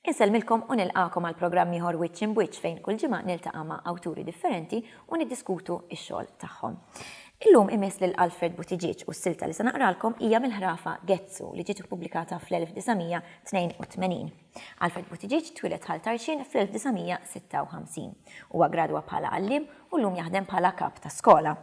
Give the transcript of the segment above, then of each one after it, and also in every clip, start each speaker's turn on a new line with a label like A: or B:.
A: Insellmilkom u nilqakom għal programm ieħor Wiċċ Imbwiċċ fejn kull ġimgħa niltaqa' ma' awturi differenti u niddiskutu x-xogħol tagħhom. Illum imiss lil Alfred Buttigieg u s-silta li se naqralkom hija mill-ħrafa Gezzu li ġiet ippubblikata fl-1900 82. Alfred Buttigieg twieled Ħal Tarxien fl-1956. Huwa gradwa bħala għalliem u llum jaħdem bħala kap ta' skola.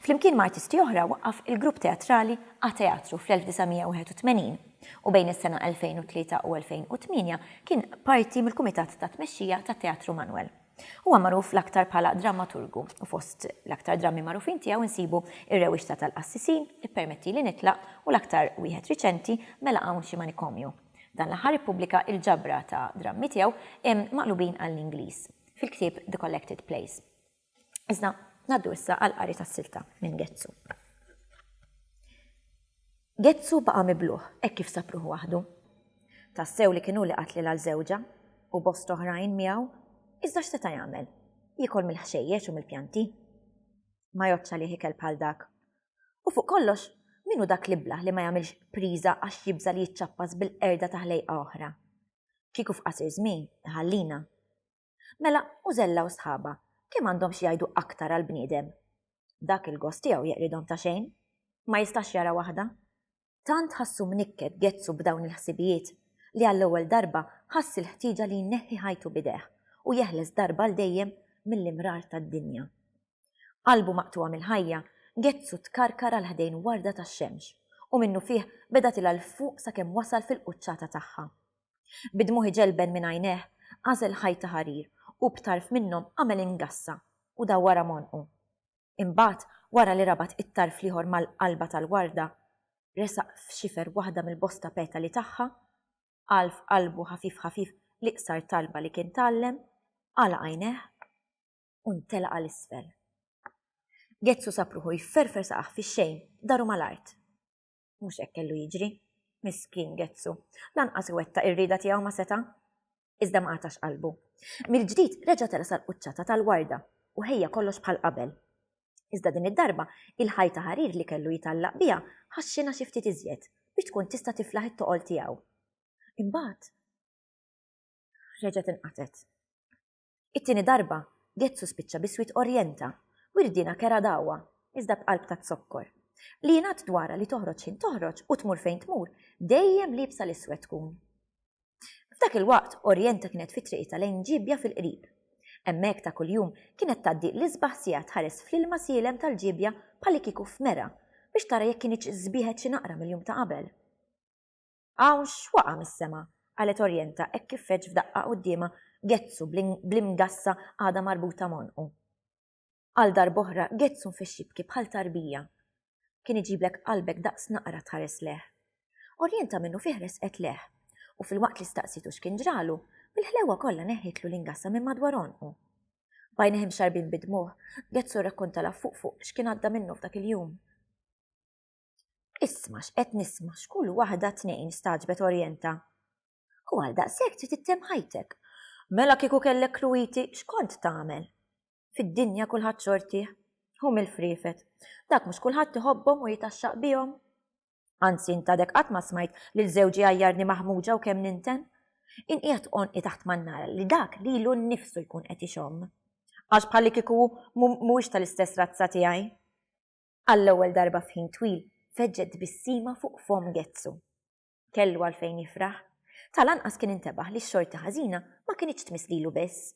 A: Flimkien ma' artisti oħra waqqaf il-grupp teatrali A-Teatru fl-1981 u bejn is-sena 2003 u 2008 kien parti mill-kumitat ta' tmexxija tat-Teatru Manuel. Huwa magħruf l-aktar bħala drammaturgu u fost l-aktar drammi magħrufin tiegħu nsibu Ir-Rewixta tal-Qassisin, Ippermettili Nitlaq u l-aktar wieħed riċenti, Mela Hawn Xi Manikomju. Dan l-aħħar ippubblika il-ġabra ta' drammi tiegħu maqlubin għall-Ingliż fil-ktieb The Collected Plays. Iżda ngħaddu issa għall-qari tas-silta minn Ghezzu. Ghezzu baqa' miblugħ hekk kif sab ruħu waħdu. Tassew li kien hu li qatli l żewġa, u bosta oħrajn miegħu, iżda x'seta' jagħmel? Jiekol mill-ħxejjex u mill-pjanti? Ma jgħoddx għalih ikel bħal dak. U fuq kollox, min hu dak l-iblah li ma jagħmilx priża għax jibża' li jiċċappas bil-qerda ta' ħlejqa oħra? Kieku f'qasir żmien, iħallina. Mela, Mużella u sħabha, kemm għandhom xi jgħidu aktar għall-bniedem? Dak il-gost tiegħu jeqridhom ta' xejn. Ma jistax jara waħda. Tant ħassu mnikket Gezzu b'dawn il-ħsibijiet li għall-ewwel darba ħass il-ħtieġa li jneħħi ħajtu b'idejh u jeħles darba għal dejjem mill-imrar tad-dinja. Qalbu maqtugħa mill-ħajja, Getzu tkarkar għal ħdejn warda tax-xemx, u minnufih beda tilgħa 'l fuq sakemm wasal fil-quċċata tagħha. Bid-dmugħ iġelben minn għajnejh, għażel ħajt ta' ħarir u b'tarf minnhom għamel ingassa u daw wara m'għonqu. Imbagħad, wara li rabat it-tarf l-ieħor mal-qalba tal-warda, resaq f'xifer waħda mill-bosta petali tagħha, qal f'qalbu ħafif ħafif l-iqsar talba li kien tgħallem, għalaq għajnejh, u ntelaq għal isfel. Gezzu sapruħu jifferfer saqaħ fi xejn, daru mal-art. Mhux hekk kellu jiġri. Miskin Gezzu, lanqas iwetta ir-rida tiegħu ma seta' iżda ma għatax qalbu. Mill-ġdid reġa' tela sal-quċċata tal-warda u ħejja kollox bħal qabel. Iżda din id-darba il-ħajta ħarir li kellu jitallaq biha ħaxxina xi ftit iżjed biex tkun tista' tiflaħ it-toqol tiegħu. Imbagħad reġa' tinqatet. It-tieni darba, Gezzu spiċċa bi swied orjenta u rdiena kera dagħwa, iżda b'qalb ta' zokkor. Li jingħad dwarha li toħroġ ħin toħroġ u tmur fejn tmur, dejjem liebsa l-iswed tkun. F'dak il-waqt, orjenta kienet fi triqitha lejn ġiebja fil-qrib. Hemmhekk ta' kuljum kienet tgħaddi l-isbaħ siegħa tħares fl-ilma sielem tal-ġiebja bħallikieku f'mera biex tara jekk kinitx sbieħet xi naqra mill-jum ta' qabel. Hawn x'waqa' mis-sema, qalet Orienta hekk kif feġġ f'daqqa quddiemha Ghezzu bl-imgassa għadha marbuta m'għonqu. Għal darb'oħra Ghezzu nfexx jibki bħal tarbija. Kien iġiblek qalbek daqs naqra tħares lejh. Orienta minnufih resqet lejh, u filwaqt li staqsietu x'kien ġralu, bil-ħlewwa kollha neħħitlu l-ingassa minn madwar għonqu. B'għajnejh imxarrbin bid-dmugħ, Ghezzu rrakkontalha fuq fuq x'kien għadda minnu f'dak il-jum. Isma' x'qed nisma' x'kull waħda tnejn staġbet orjenta. U għal daqshekk trid ittem ħajtek. Mela kieku kellek kluwiti x'kont tagħmel? Fid-dinja kulħadd xortih. Hu mill-friefet. Dak mhux kulħadd iħobbhom u jitaxxaq bihom. Anzi intadek qatt ma smajt lil żewġi għajjarni maħmuġa u kemm ninten. Inqiegħed qonqi taħt ma nara li dak lilu nnifsu jkun qed ixomm. Għax bħalli kieku mhuwiex tal-istess razza tiegħi. Għall-ewwel darba f'ħin twil feġġet tbissima fuq fomm Getzu. Kellu għalfejn jifraħ. Tal-anqas kien intebaħ li x-xorti ħażina ma kinitx tmiss lilu biss.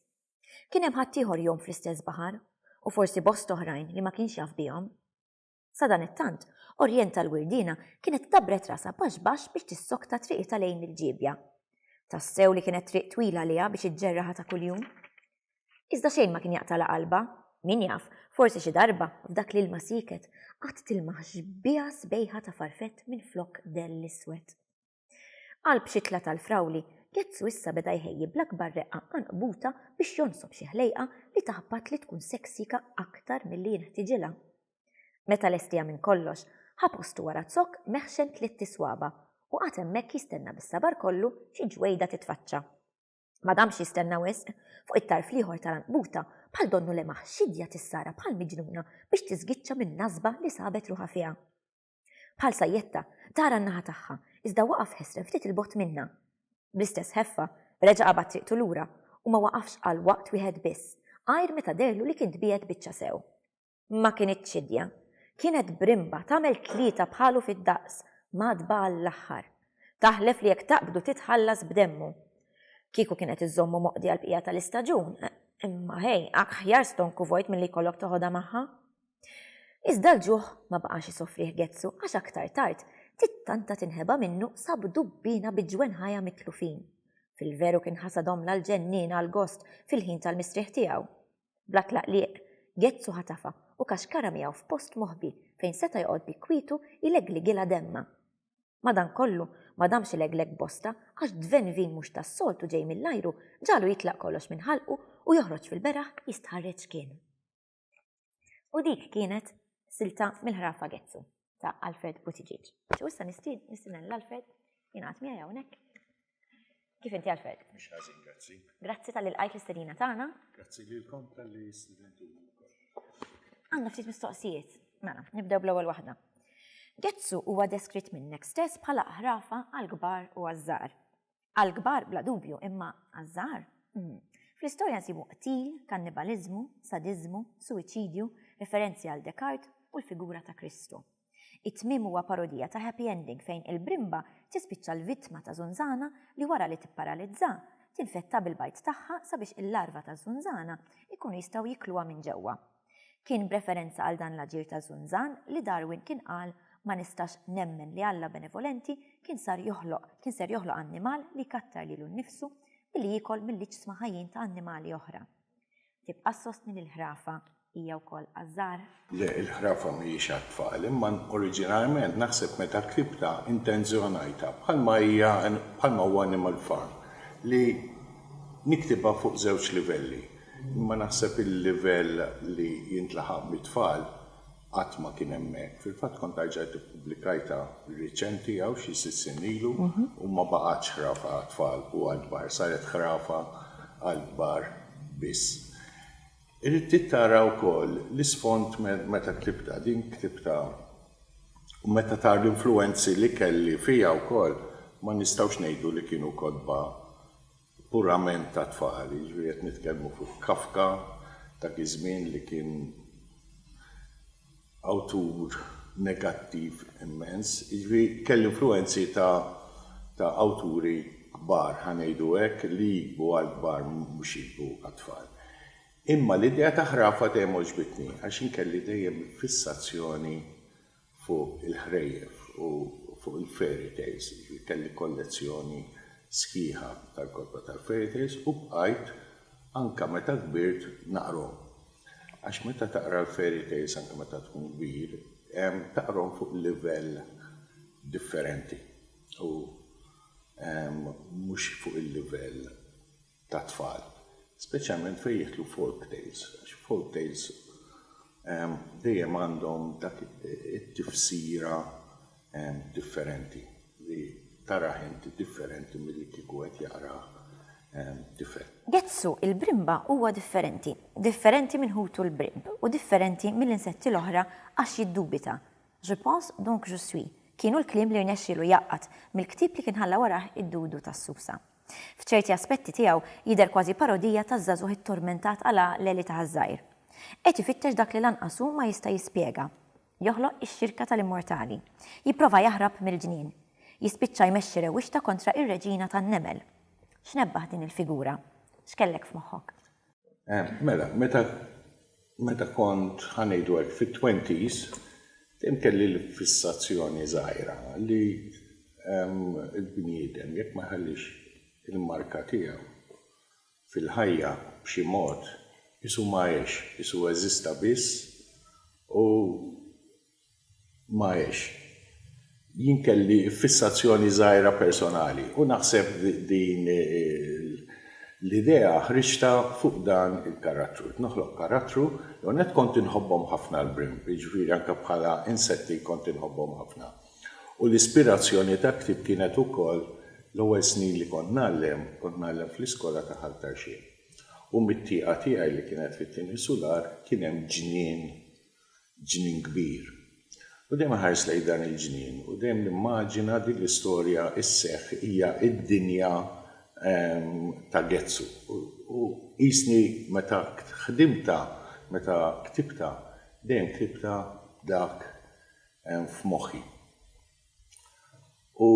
A: Kien hemm ħaddieħor jgħum fl-istess baħar, u forsi bosta oħrajn li ma kienx jaf bihom. Sadanittant, Orjenta l-Wirdiena kienet dabbret rasha baxx baxx biex tissokta triqitha lejn il-ġiebja. Tassew li kienet triq twila għaliha biex iġġerraha ta' kuljum. Iżda xejn ma kien jaqtala qalbha. Min jaf, forsi xi darba, f'dak l-ilma sieket, qatt tilmaħ xbieha sbejħa ta' farfett minflok dell iswed. Qalb xitla tal-frawli, Gezzu issa beda jħejji bl-akbar reqqa qanqbuta biex jonsob xi ħlejqa li taħbat li tkun seksika aktar milli jinħtiġilha. Meta lestiha minn kollox, ħa postu wara zokk meħxen tlitt iswaba' u qagħad hemmhekk jistenna bis-sabar kollu xi ġwejda titfaċċa. Ma damx jistenna wisq, fuq it-tarf l-ieħor tal-anqbuta bħal donnu lemaħ xidja tissara bħal miġnuna biex tiżgiċċa min-nasba li sabet ruħha fiha. Bħal sajjetta, tara n-naħa tagħha, iżda waqaf ħesrem ftit il-bogħod minnha. Bl-istess ħeffa, reġa' qabad triqtu lura u ma waqafx għal waqt wieħed biss, għajr meta dehrlu li kien tbiegħed biċċa sew. Ma kinitx idja. Kienet brimba, tagħmel tlieta bħalu fid-daqs, mgħaddba għall-aħħar. Taħlef li jekk taqbdu titħallas b'demmu. Kieku kienet iżżommu moqdi għall-bqija tal-istaġun, imma ħej, aħjar stonku vojt milli jkollok toħodha magħha. Iżda l-ġuħ ma baqax isofrih Gezzu għax aktar tard tittanta tinħeba minnu sab dubbina bi ġwenħajha mitlufin. Fil-veru kien ħasadhom l-ġennin għal gost fil-ħin tal-mistrieħ tiegħu. Bla tlaqliq, Gezzu ħatafha u kaxkara miegħu f'post moħbi fejn seta' joqgħod bi kwietu jlegligilha demmha. Madankollu, ma damx ilegleg bosta għax dven vin mhux tas-soltu ġej mill-ajru ġagħlu jitlaq kollox minn ħalqu u joħroġ fil-beraħ jistħarreġ kien. U dik kienet silta mill-ħrafa Gezzu. ta' Alfred Buttigieg. So issa nistid, nistinnen l-Alfred, jingħat miegħi hawnhekk. Kif inti Alfred? Mhux ħażin, grazzi. Grazzi tal ilqajt l-istedina tagħna. Grazzi lilkom tal-li studentu Għandna ftit mistoqsijiet. Mela, nibdew bl-ewwel waħda. Getzu huwa deskritt minnek stess bħala ħrafa għal kbar u għażżar. Għall-kbar bla dubju, imma għaż-żgħar? Fl-istorja nsibu qtil, kannibaliżmu, sadiżmu, suwiċidju, referenzi għal Descartes u l-figura ta' Kristu. It-tmiem huwa parodija ta' happy ending fejn il-brimba tispiċċa l-vittma ta' żunżana li wara li tipparalizzha, tinfetta bil-bajd tagħha sabiex il-larva taż-żunżana jkunu jistgħu jikluha minn ġewwa. Kien b'referenza għal dan l-aġir ta' Zunzan li Darwin kien qal ma nistax nemmen li Alla benevolenti kien sar joħloq kien ser joħloq annimal li jkattar lilu nnifsu billi jiekol mill-iġsma ħajjin ta' annimali oħra. Tibqa' ssostni li l-ħrafa hija wkoll għaż-żgħar? Le, il-ħrafa mhijiex għat-tfal, imma oriġinarment naħseb meta ktibtha intenzjonajtha, bħalma hija bħalma huwa Animal Farm, li niktibha fuq żewġ livelli. Imma naħseb il-livell li jintlaħaq mit-tfal qatt ma kien hemmhekk. Fil-fatt kont arġajt ippubblikajtha riċenti hawn xi sitt snin ilu u ma baqgħetx ħrafa għat-tfal u għall-kbar, saret ħrafa għall-kbar biss. Irid tara wkoll l-isfond meta ktibtha, din ktibtha u meta tara l-influwenzi li kelli fija wkoll ma nistgħux ngħidu li kienu kotba purament ta' tfal, jiġifieri qed nitkellmu fuq Kafka, dak iż-żmien li kien awtur negattiv immens, jiġifieri kelli influwenzi ta' ta' awturi kbar, ħa ngħidu hekk, li jiktbu għall-kbar mhux jiktbu għat-tfal. Imma l-idea ta' ħrafa dejjem għoġbitni għax jien kelli dejjem fissazzjoni fuq il-ħrejjef u fuq il-fairy tales, jiġifieri kelli kollezzjoni sħiħa tal-kotba tal-fairy tales u bqajt anke meta kbirt naqrhom. Għax meta taqra l-fairy tales anke meta tkun kbir, taqrhom fuq livell differenti u mhux fuq il-livell tat-tfal, speċjalment fejn jidħlu folk tales, għax folk tales dejjem għandhom dak it-tifsira differenti li tarah inti differenti milli kieku qed jaqrah tifel. Gezzu, il-brimba, huwa differenti, differenti minn ħutu l-brimb u differenti mill-insetti l-oħra għax jiddubita, Je pense, donc je suis, kienu l-kliem li rnexxielu jgħaqqad mill-ktieb li kien ħalla warah id-dudu tas-susa. F'ċerti aspetti tiegħu jidher kważi parodija taż-żagħżugħ ittormentat għal għaqleli ta' ħaż-żgħir. Qed ifittrex dak li lanqas hu ma jista' jispjega. Joħloq ix-xirka tal-immortali. Jipprova jaħrab mill-ġnien. Jispiċċa jmexxi rewwixta kontra ir-reġina tan-nemel. X'nebbaħ din il-figura! X'kellek f'moħħok? Mela, meta meta kont ħanejdu hekk fit-twenties, dejjem kelli l-fissazzjoni żgħira li l-bniedem jekk ma jħallix il-marka tiegħu fil-ħajja b'xi mod, qisu ma għex, qisu eżista biss u Maiex. Jien kelli fissazzjoni żgħira personali u naħseb din l-idea ħriġtha fuq dan il-karattru. Ridt noħloq karattru, l-ewwel nett kont inħobbhom ħafna l-brimb, jiġifieri anke bħala insetti kont inħobbhom ħafna. U l-ispirazzjoni tal-ktieb kienet ukoll l-ewwel snin li kont ngħallem, kont ngħallem fl-iskola ta' Ħal Tarxien. U mit-tieqa tiegħi li kienet fit-tieni sular kien hemm ġnien ġnien kbir. U dejjem iħares lejn dan il-ġnien u dejjem nimmaġina din l-istorja sseħħ hija d-dinja ta' Getzu. U qisni meta ħdimtha, meta ktibtha, dejjem ktibtha b'dak f'moħħi. U.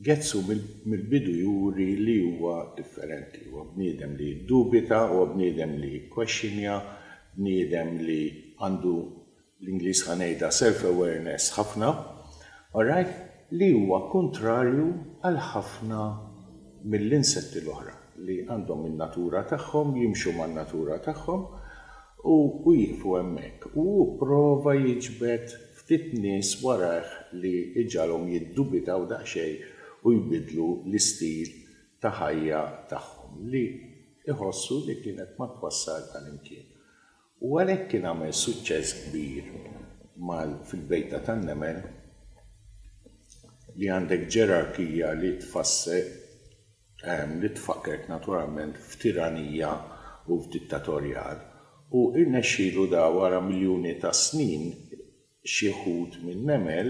A: Getsu mill-bidu juri li huwa differenti. Huwa bniedem li jiddubita, huwa bniedem li jikkwexxinja, bniedem li għandu, bl-Ingliż ħa ngħidha, self-awareness ħafna, alright, li huwa kuntrarju għal ħafna mill-insetti l-oħra li għandhom in-natura tagħhom, jimxu man-natura tagħhom u jieqfu hemmhekk. U hu pprova jiġbed ftit nies warajh li jġagħalhom jiddubitaw daqsxejn u jbiddlu l-istil ta' ħajja tagħhom li jħossu li kienet ma twassal għal imkien. U għalhekk kien għamel suċċess kbir mal fil-bejta tan-nemel li għandek ġerarkija li tfassel li tfakkert naturalment f'tiranija u f'dittatorjal, u irnexxielu da wara miljuni ta' snin xi wħud min-nemel,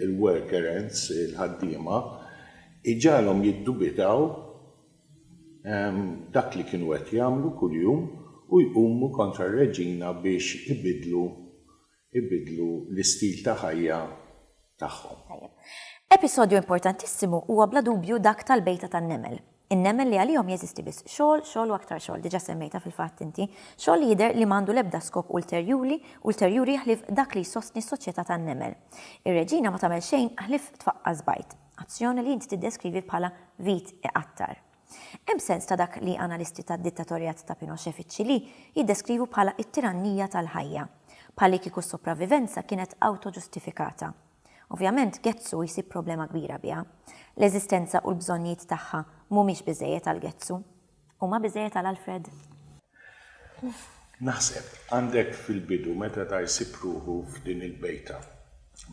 A: il-worker ants, il-ħaddiema, iġagħalhom jiddubitaw dak li kienu qed jagħmlu kuljum u jqumu kontra r-reġina biex ibiddlu ibiddlu l-istil ta' ħajja tagħhom. Tajjeb. Episodju importantissimu huwa bla dubju dak tal-bejta tan-nemel. In-nemel li għalihom jeżisti biss xogħol, xogħol u aktar xogħol, diġà semmejtha fil-fatt inti, xogħol li jidher li m'għandu l-ebda skop ulterjuli ulterjuri ħlief dak li jsostni s-soċjetà tan-nemel. Ir-reġina ma tagħmel xejn ħlief tfaqqas bajt, azzjoni li inti tiddeskrivi bħala vit iqattar. Hemm sens ta' dak li analisti tad-dittatorjat ta' Pinochet fiċ-Ċilì jiddeskrivu bħala t-tirannija tal-ħajja, bħallikieku s-sopravivenza kienet awtoġustifikata. Ovvjament, Getzu jsib problema kbira biha. L-eżistenza u l-bżonnijiet tagħha mhumiex biżżejjed għal Getzu. Huma biżżejjed għal Alfred? Naħseb, għandek fil-bidu meta ta' jsib ruħu f'din il-bejta.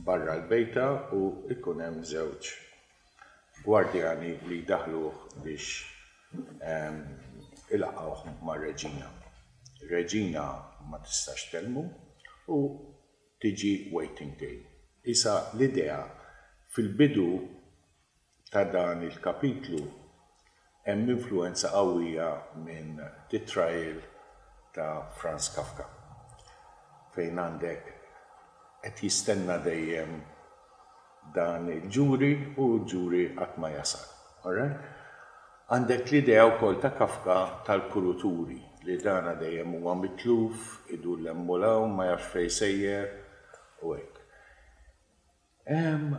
A: Barra l-bejta u jkun hemm żewġ gwardjani li jdaħħluh biex ilaqqgħuh mar-reġina. Ir-reġina ma tistax tkellmu u tiġi waiting day. Isa l-idea fil-bidu ta' dan il-kapitlu Hemm influwenza qawwija minn Die Trial ta' Franz Kafka, fejn għandek qed jistenna dejjem dan il-ġuri u l-ġuri qatt ma jasal. Alright? Għandek l-idea wkoll ta' Kafka tal-kuruturi, li dana dejjem huwa mitluf, idur 'l hemm u 'l hawn, ma jafx fejn sejjer u hekk. Hemm.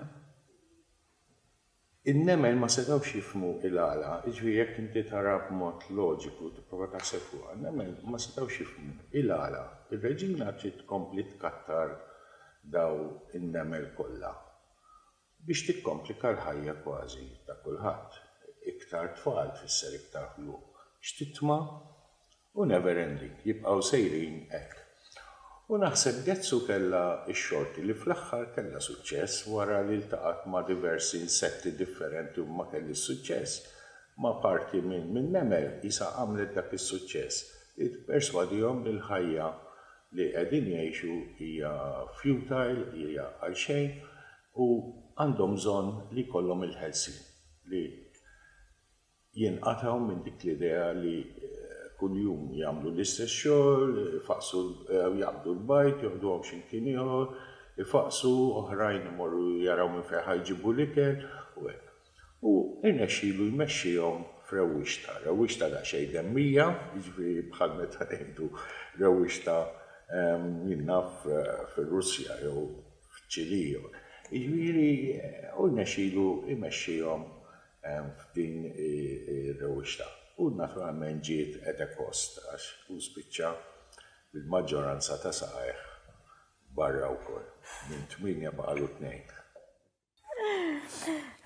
A: In-nemel ma setgħux jifhmu il-għala, jiġifieri jekk inti tara b'mod loġiku, tipprova taħseb fuqha, in-nemel ma setgħux jifhmu il-għala r-reġina trid tkompli tkattar dawn in-nemel kollha biex tikkomplika l-ħajja kważi ta' kulħadd. Iktar tfal tfisser iktar ħlu. X'titma! U never ending, jibqgħu sejrin hekk. U naħseb Getzu kellha x-xorti li fl-aħħar kellha suċċess wara li ltaqgħet ma' diversi insetti differenti u ma kellhiex suċċess, ma' parti minn nemel qisha għamlet dak is-suċċess li tipperswadihom li l-ħajja li qegħdin jgħixu hija futile, hija għal xejn u għandhom bżonn li jkollhom il-ħelsien li. jinqatgħu minn dik l-idea li kuljum jagħmlu l-istess xogħol, ifaqqsu jew jaqbdu l-bajd, joħduhom xi mkien ieħor, ifaqqsu, oħrajn imorru jaraw minn fejn ħa jġibu l-ikel, u hekk. U rnexxielu jmexxihom f'rewwixta, rewwixta daqsxejn demmija, jiġifieri bħal meta ngħidu rewwixta jien naf fir-Russja jew f'Ċilì jew hekk. Jiġifieri u rnexxielu jmexxihom hemm f'din ir-rewwixta. U naturalment ġiet at a cost għax hu spiċċa bil-maġġoranza ta' saqajh barra wkoll. Minn tmienja baqgħalu tnejn.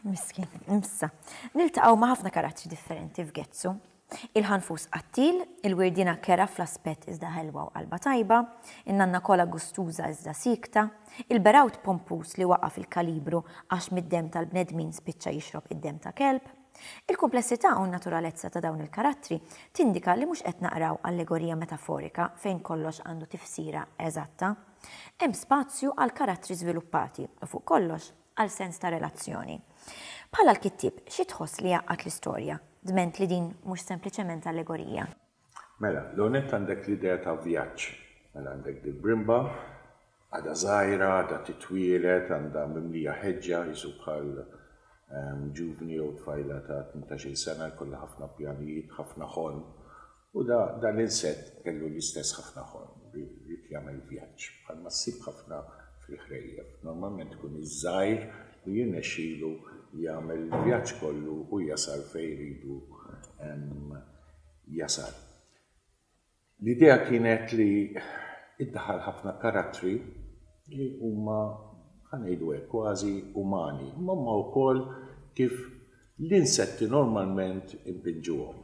A: Miskin. Issa, niltaqgħu ma' ħafna karattri differenti f'Getsu. Il-ħanfus qattiel, il-wirdiena kerha fl-aspett iżda ħelwa u qalbha tajba, in-nanna kola gustuża iżda siekta, il-berawt pompuż li waqa' fil-kalibru għax mid-demm tal-bnedmin spiċċa jixrob id-demm ta' kelb. Il-kumplessità u n-naturalezza ta' dawn il-karattri tindika li mhux qed naqraw allegorija metaforika fejn kollox għandu tifsira eżatta. Hemm spazju għal karattri żviluppati u fuq kollox, għal sens ta' relazzjoni. Bħala l-kittieb, xi tħoss li jgħaqqad l-istorja, dment li din mhux sempliċement allegorija? Mela, l-ewwel nett għandek l-idea ta' vjaġġ. Mela għandek dil-brimba, għadha żgħira, għadha titwieled, għandha mimlija ħeġġa, qisu bħal ġuvni jew tfajla ta' tmintax-il sena jkollha ħafna pjanijiet, ħafna ħolm, U dan l-insett kellu l-istess ħafna ħolm, ried jagħmel vjaġġ, bħalma ssib ħafna fil-ħrejjef. Normalment ikun iż-żgħir li jirnexxilu jagħmel il-vjaġġ kollu u jasal fejn iridu jasal. L-idea kienet li ddaħħal ħafna karattri li huma, ħa ngħidu hekk, kważi umani, imma huma wkoll kif l-insetti normalment inbinġuhom.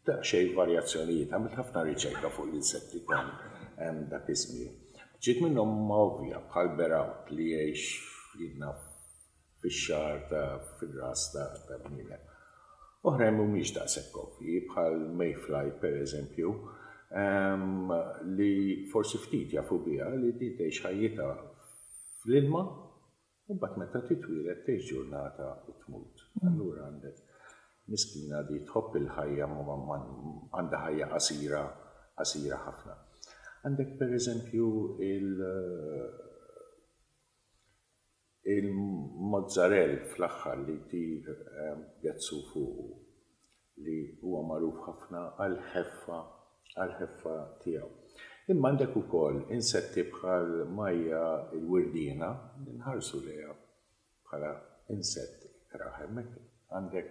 A: daqsxejn varjazzjonijiet, għamilt ħafna riċerka fuq l-insetti tan dak iż-żmien. Ftit minnhom huma ovvja bħal berawt li jgħix f'idna fix-xagħar ta' fir-ras ta' ta' bniedem. Oħrajn mhumiex daqshekk ovvji bħal mayfly pereżempju li forsi ftit jafu biha li din tgħix ħajjitha fl-ilma U mbagħad meta titwieled tgħix ġurnata u tmut. Allura għandek miskina di tħobb il-ħajja ma għandha ħajja qasira, qasira ħafna. Għandek per eżempju il il-mozzarell fl-aħħar li jtir gezzu fuqu. li huwa magħruf ħafna għall-ħeffa għall-ħeffa tiegħu. Imma għandek ukoll insetti bħal Maja l-wirdiena li nħarsu lejha bħala insett ikrah. Hemmhekk għandek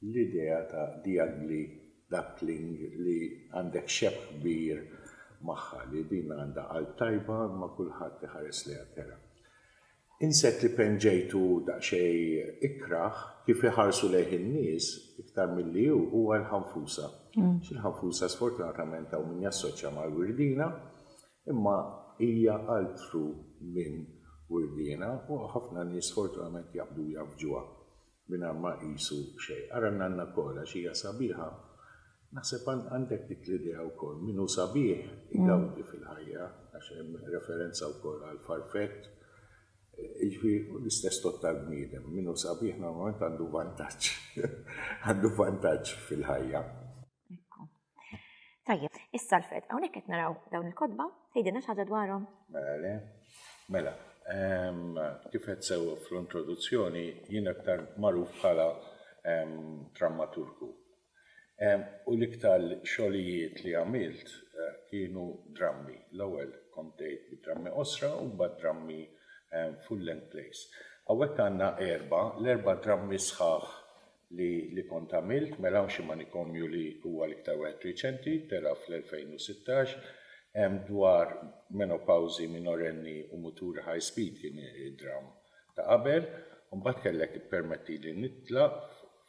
A: l-idea ta' the ugly duckling li għandek xebh kbir magħha li din għandha qalb tajba imma kulħadd iħares lejha kerha. Insett li penġejtu daqsxejn ikrah kif iħarsu lejh in-nies iktar milli hu huwa l-ħanfusa. Xi l-ħanfusa sfortunatament hawn min jassoċja mal-wirdiena imma hija altru minn wirdiena u ħafna nies sfortunament jaqbdu u jgħaffġuha. Mingħajr ma iqisu xejn. Ara n-nanna wkoll għax hija sabiħa. Naħseb għandek dik l-idea wkoll. Min hu sabiħ igawdi fil-ħajja għax hemm referenza wkoll għall-farfett. Jiġifieri hu l-istess tort tal-bniedem. Min hu sabiħ normalment għandu vantaġġ. Għandu vantaġġ fil-ħajja. Ekku. Tajjeb, issa l-fed, hawnhekk qed naraw dawn il-kotba, tgħidilna xi ħaġa dwarhom? Mela le, mela, ehm, kif qed sewwa fl-introduzzjoni jien aktar magħruf bħala ehm, drammaturgu. Ehm, u l-iktar xogħlijiet li għamilt eh, kienu drammi. L-ewwel kont tgħid bid-drammi qosra u mbagħad drammi full-length plays. Hawnhekk għandna erba, l-erba drammi sħaħ li li kont għamilt, mela hawn xi manikomju li huwa l-iktar wieħed riċenti, tela' fl-2016, hemm dwar menopawżi minorenni u muturi high speed kien id-dramm ta' qabel, u mbagħad kellek ippermettili nitlaq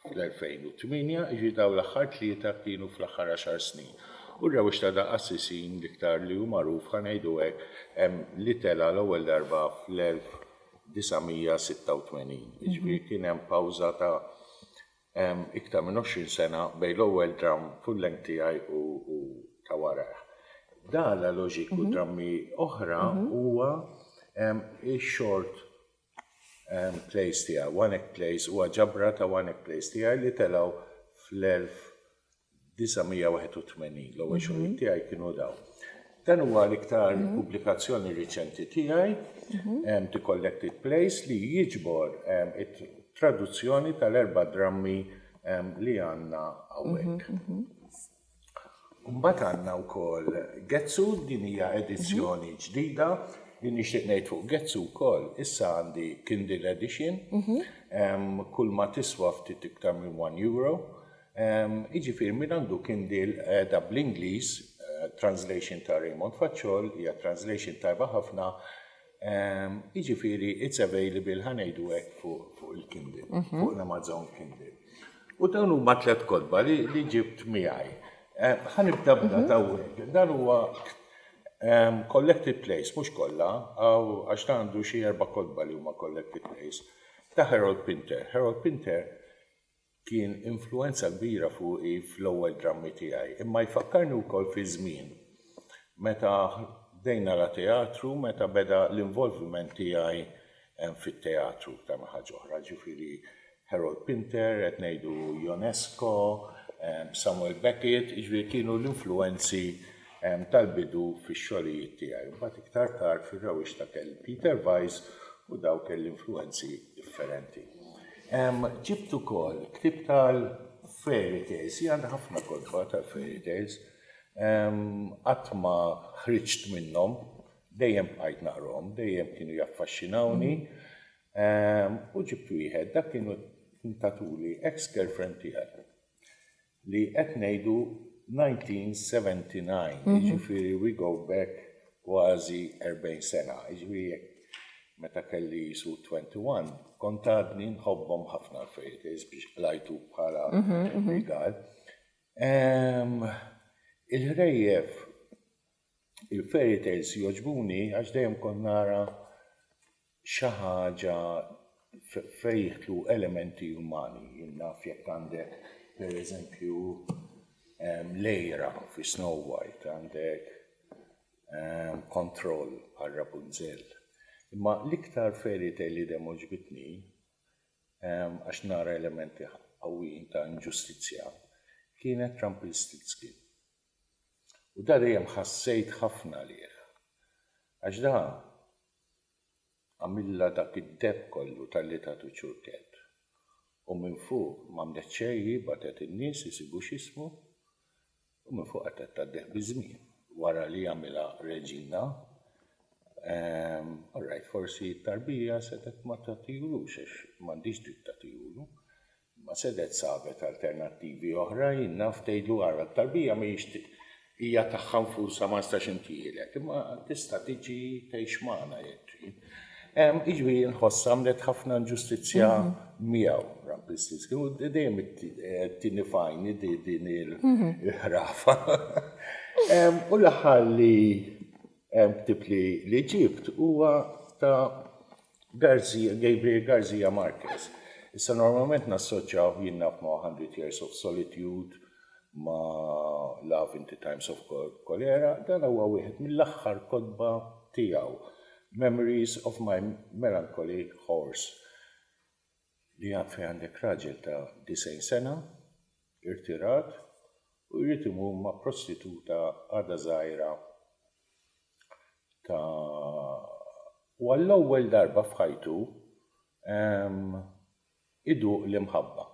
A: fl-2008, jiġifieri dawn l-aħħar tlieta kienu fl-aħħar għaxar snin. U r-rewwix ta' daqq għas-sisin l-iktar li hu magħruf, ħa ngħidu hekk, hemm li tela' l-ewwel darba fl-1996. 1986, jiġifieri kien hemm pawża ta' iktar minn 20 sena bejn l-ewwel dramm full length tiegħi u ta' warajh. Dala Loġik u drammi oħra huwa x-short plays tiegħi, one act plays, huwa ġabra ta' one act plays tiegħi li telgħu fl-1986. 981 L-ewwel xogħlijiet tiegħi kienu dawn. Dan huwa l-iktar pubblikazzjoni riċenti tiegħi, The Collected Plays, li jiġbor it-traduzzjoni tal-erba' drammi li għandna hawnhekk. Imbagħad għandna wkoll Getzu, din hija edizzjoni ġdida li nixtieq ngħid fuq Getzu wkoll, issa għandi Kindle Edition, kulma tiswa ftit iktar minn one euro, Jiġifieri min għandu Kindle qiegħda bl-Ingliż, translation ta' Raymond Facciol, hija translation tajba ħafna, jiġifieri it's available ħa ngħidu hekk fuq il-Kindle, fuq l-Amazon Kindle. U dawn huma tliet kotba li ġibt miegħi. Ħa nibda b'dan hawnhekk. Dan huwa collected plays, mhux kollha, għax dan għandu xi erba' kotba li huma collected plays, ta' Harold Pinter. Harold Pinter Kien influwenza kbira fuqi fl-ewwel drammi tiegħi, imma jfakkarni wkoll fi żmien meta bdejt nara teatru, meta beda l-involviment tiegħi fit-teatru iktar minn ħaġa oħra, ġifieri Harold Pinter, qed ngħidu Ionesco, Samuel Beckett, jiġifieri kienu l-influwenzi tal-bidu fix-xogħlijiet tiegħi. Mbagħad iktar tard fir-rawwixta kelli Peter Weiss u daw kelli influwenzi differenti. Ġibt ukoll ktieb tal-fairy tales, hija għandha ħafna kotba tal-fairy tales. Qatt ma ħriġt minnhom, dejjem bqajt naqrahom, dejjem kienu jaffaxxinawni. U ġibt wieħed, dak kienu ntatuli ex-girlfriend tiegħi. li qed ngħidu 1979, jiġifieri we go back kważi 40 sena, jiġifieri jekk meta kelli qisu 21 kont għadni nħobbhom ħafna l-fejjetejs biex qlajtu bħala rigal. Il-ħrejjef Il-fairy tales jogħġbuni għax dejjem kont nara xi ħaġa fejn jidħlu elementi umani. Jien naf jekk għandek pereżempju l-għira fi Snow White, għandek kontroll bħal Rapunzel. Imma l-iktar fairy tale li dejjem għoġbitni, għax nara elementi qawwijin ta' inġustizzja, kienet Rumpelstiltskin. U da dejjem ħassejt ħafna għalih. Għax da għamilha dak id-deheb kollu talli tagħtu ċurkett. U minn fuq m'għamlet xejn hi bagħtet in-nies isibu x'jismu u minn fuq qatgħet tgħaddih biż-żmien. Wara li għamilha reġina, ehm, orrajt forsi t-tarbija setgħet ma tagħtihulux għax m'għandhiex dritt tagħtihulu. Ma sedet sabet alternattivi oħra, jien naf, tgħidlu ara t-tarbija mhijiex hija tagħha nfusha ma nistax intieħilek, imma tista' tiġi tgħix magħna jekk trid. Jiġifieri jien nħoss għamlet ħafna inġustizzja miegħu Rampistis, kienu dejjem it-tieni fajn din il-ħrafa. U l-aħħar li ktibt li ġibt huwa ta' García, Gabriel García Márquez. Issa normalment nassoċjawh jinnaf ma' Hundred Years of Solitude, ma' Love in the Times of Cholera, dan huwa wieħed mill-aħħar kotba tiegħu, Memories of my Melancholy Horse. li fejn għandek raġel ta' 90 sena, irtirat, u jrid imur ma' prostituta għadha żgħira ta' u għall-ewwel darba f'ħajtu iduq l-imħabba.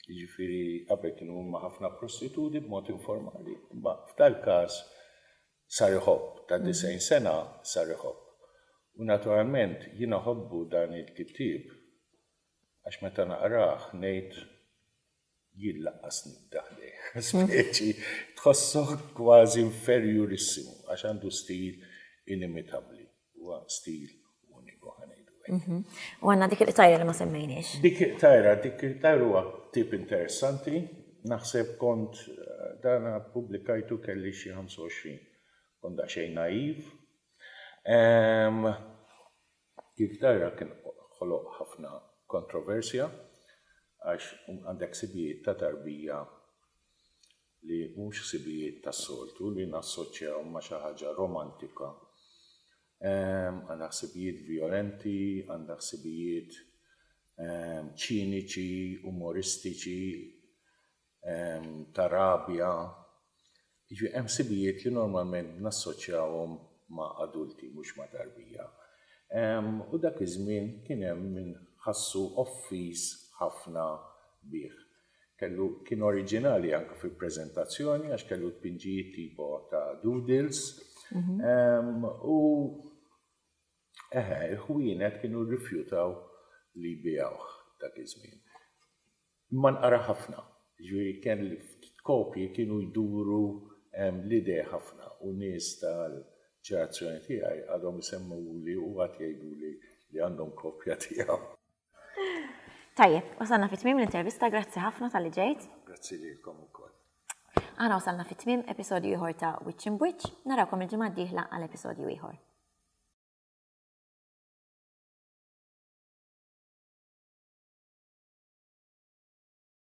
A: Jiġifieri qabel kien imur ma' ħafna prostituti b'mod informali, imma f'dal-każ Sar iħobb, ta' 90 sena sar iħobb. U naturalment jien iħobbu dan il-kittieb għax meta naqrah ngħid jien lanqas nibda ħdejh. Speċi tħossok kważi inferjurissimu għax għandu stil inimitabbli. Huwa stil uniku ħa ngħidu hekk. U għandna dik il-qtajra li ma semmejniex. Dik il-qtajra, dik il-qtajra huwa tip interessanti, naħseb kont dan ppubblikajtu kelli xi 25. Kont daqsxejn naiv. Dik il-qtajra kien ħoloq ħafna kontroversja għax għandek sibijiet ta' tarbija li mhux ħsibijiet tas-soltu li nassoċjahom ma' xi ħaġa romantika, għandha ħsibijiet vjolenti, għandha ħsibijiet ċiniċi, umoristiċi, ta' rabja, jiġifieri hemm ħsibijiet li normalment nassoċjahom ma' adulti mhux ma' tarbija. U dak iż-żmien kien hemm min ħassu offiż ħafna bih. Kellu kien oriġinali anke fil-preżentazzjoni għax kellu tpinġijiet tipo ta' doodles. Mhm. U eħe, il-ħwienet kienu rrifjutaw li jbijawh dak iż-żmien. Imma nqara ħafna, ġifieri kien kopji kienu jduru l-idea ħafna u nies tal-ġenerazzjoni tiegħi għadhom isemmuli u għad jgħiduli li għandhom kopja tiegħu. Tajjeb, wasalna fit tmim l-intervista, grazzi ħafna tal-li ġejt. Grazzi li l-kom u koll. Għana wasalna fit tmim episodju iħor ta' Witch in Witch, narakom il-ġimgħa diħla għal episodju iħor.